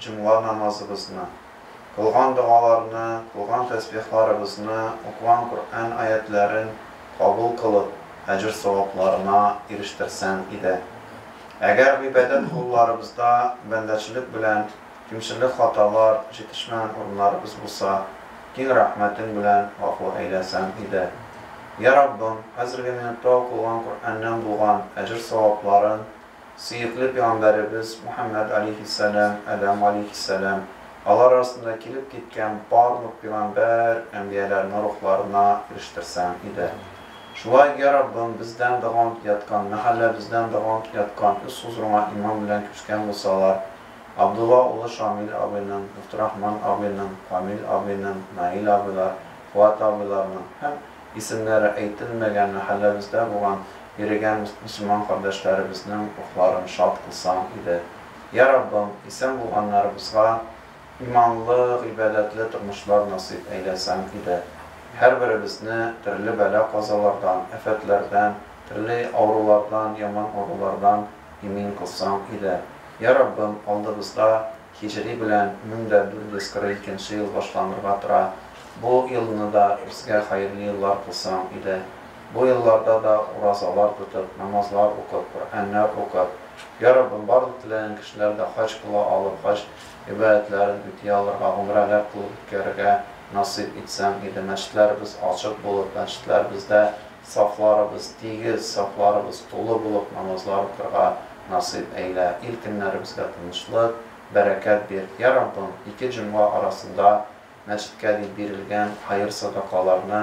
Җомга намазыбызны, кылган догаларны, кылган тәсбихларыбызны, укыган Коръән аятьләрен кабул кылып, әҗер-савапларына ирештерсәң иде. Әгәр гыйбадәт кылуларыбызда бәндәчелек белән кимчелек-хаталар, җитешмәгән урыннарыбыз булса, киң рәхмәтең белән гафу әйләсәң иде. Йә Раббым, хәзерге минутта укылган Коръәннән булган әҗер-савапларын Сөекле пигамбәребез Мөхәммәд алейһиссәлам, Адәм алейһиссәлам, алар арасында килеп киткән барлык пигамбәр, әнбияләрнең рухларына ирештерсәң иде. Шулай, йә Раббым, бездән дә гонт яткан, мәхәллә бездән дә гонт яткан үз хозурыңа иман белән күчкән булсалар, Абдулла улы Шамил абыйның, Мөфтирахман абыйның, Камил абыйның, Наил абыйлар, Фуат абыйларның һәм Исемнәре әйтелмәгән мәхәлләбездә булган йөрегән мөселман кардәшләребезнең рухларын шат кылсаң иде. Йә Раббым, исән булганнарыбызга иманлы, гыйбадәтле тормышлар насыйп әйләсәң иде. Һәрберебезне төрле бәла-казалардан, афәтләрдән, төрле авырулардан, яман авырулардан имин кылсаң иде. Йә Раббым, алдыбызда. Һиҗри белән мең дә дүрт йөз кырык икенче ел башланырга тора. Бу елны да безгә хәерле еллар кылсаң иде. Бу елларда да уразалар тотып, намазлар укып, Коръәннәр укып, Йа Раббым, барлык теләгән кешеләр дә хаҗ кыла алып, хаҗ гыйбадәтләрен үти алырга, гомрәләр кылып үткәрергә насыйп итсәң иде. Мәчетләребез ачык булып, мәчетләребездә Сафларыбыз тигез, сафларыбыз тулы булып намазлар укырга насыйп әйлә. Ил көннәребезгә тынычлык, бәрәкәт бир, йа Раббым, ике җомга арасында мәчеткә дип бирелгән хәер-садакаларны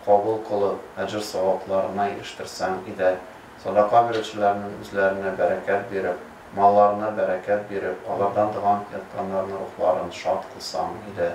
кабул кылып, әҗер-савапларына ирештерсәң иде. Садака бирүчеләрнең үзләренә бәрәкәт биреп, малларына бәрәкәт биреп, алардан доган ятканнарның рухларын шат кылсаң иде.